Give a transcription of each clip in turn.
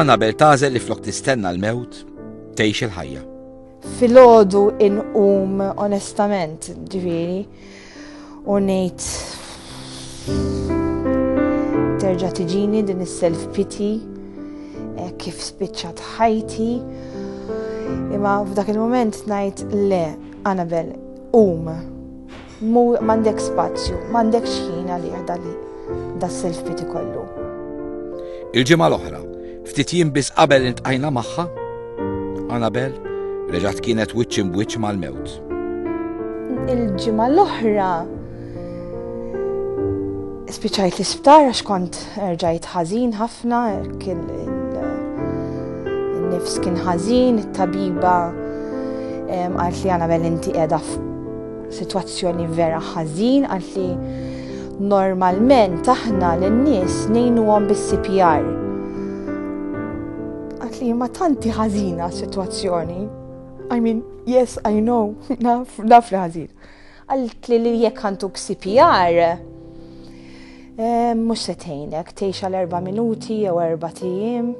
Anabel tażel li flok tistenna l-mewt tgħix il-ħajja. Filgħodu inqum onestament ġifieri u ngħid terġa' tiġini din is-self pity eh, kif spiċċat ħajti. Imma f'dak il-moment ngħid le, Anabel, um, M'għandekx spazju, m'għandekx ħin għalih dan das-self-pity kollu. Il-ġimgħa l-oħra, ftit jiem biss qabel iltqajna magħha, Anabel reġgħet kienet wiċċ imbwiċċ mal-mewt. Il-ġimgħa l-oħra spiċajt l-isptar għax kont rġajt ħażin ħafna, kien il-nifs kien ħażin, it-tabiba għalt li għana bel inti edha Sitwazzjoni vera ħażin għalt li normalment aħna lin-nies ngħinuhom bis-CPR. Għalt li ma tanti ħażina sitwazzjoni. I mean, yes, I know, naf, naf li ħażin. Għalt li li jekk għanduk CPR, eh, mhux se tgħinek tgħix għal erba' minuti jew erba' tijiem.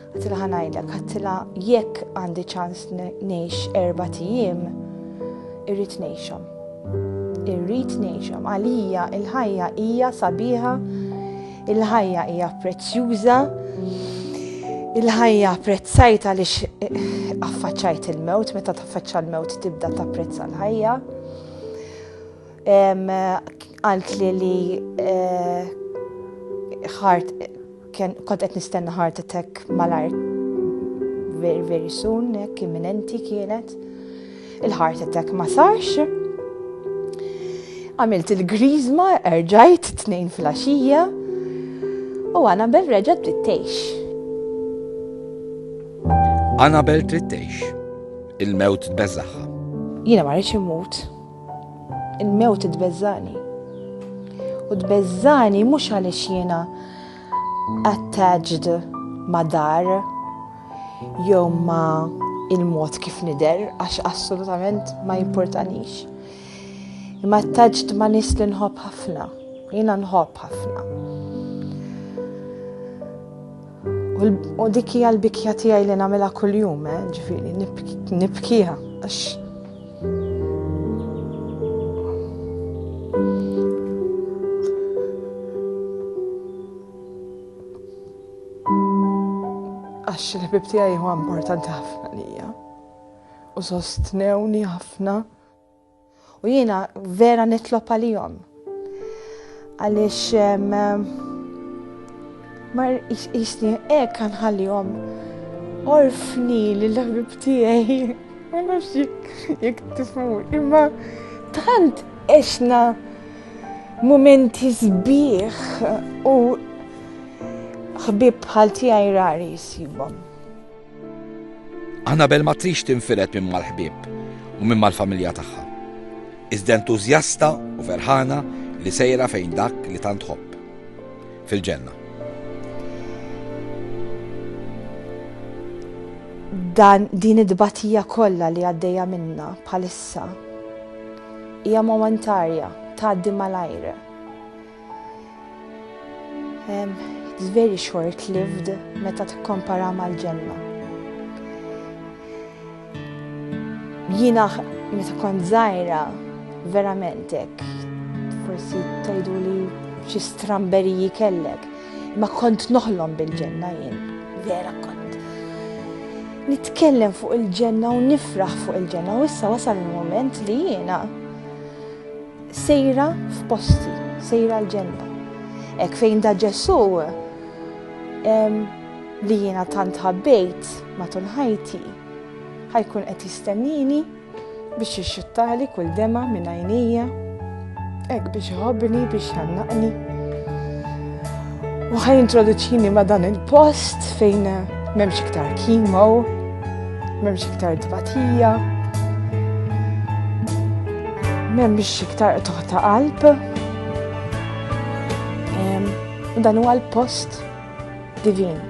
Għattilha ħanajdlek, għattilha jekk għandi ċans ngħix erba' tijiem, irrid ngħixhom. Irrid ngħixhom. Għalija il-ħajja hija sabiħa, il-ħajja hija prezzjuża, il-ħajja prezzajta li affaċċajt il-mewt, meta taffaċċa l-mewt tibda tapprezza l-ħajja. Għalt li li eh, ħart Kont qed nistenna heart attack malajr very very soon, hekk imminenti kienet. Il-heart attack ma sarx. Għamilt il-grizma, erġajt tnejn fil-axija u Anabel reġa trittejx. Anabel trittejx, il-mewt tbeżaħħa. Jiena ma rridx immut. Il-mewt tbeżżani. U tbeżżani mhux għaliex jiena attached ma' dar jew ma' il-mod kif nider għax assolutament ma jimportanix. Imma attached ma' nis li nħobb ħafna, jiena nħobb ħafna. U dik hija l-bikja tiegħi li nagħmilha kuljum, eh, ġifieri nibkiha għax għax il-ħbib tiegħi huwa importanti ħafna lija u sostnewni ħafna U jiena vera nitlob għalihom. Għaliex ma jisni hekk għanħallihom orfni li l-ħbib tiegħi. Ma nafx jekk tifhmu, imma tant eċna momenti sbieħ u ħbib bħal tiegħi rari jsibhom. Annabel ma tridx tinfired minn mal-ħbieb u minn mal-familja tagħha. Iżda entużjasta u ferħana li sejra fejn dak li tant tħobb, fil-ġenna. Dan din id-dbatija kollha li għaddejja minna bħalissa hija momentarja tgħaddi malajr. It's very short-lived meta tikkompara mal-ġenna. Jina meta kont zaħira, verament hekk, forsi tajdu li xi stramberiji kellek, ma kont noħlom bil-ġenna jien, vera kont. Nitkellem fuq il-ġenna u nifraħ fuq il-ġenna u issa wasal il-moment li jiena Sejra f'posti, sejra l-ġenba. Hekk fejn da Ġesù li jiena tant ħabbejt matul ħajti ħajkun qed jistennini biex jixxuttali kull dema minn għajnejja, hekk biex iħobbni biex jannaqni. U ħaj introduċini ma dan il-post fejn memx iktar kimo, memx iktar tbatija, memx iktar toħta qalb. Dan huwa l-post divin.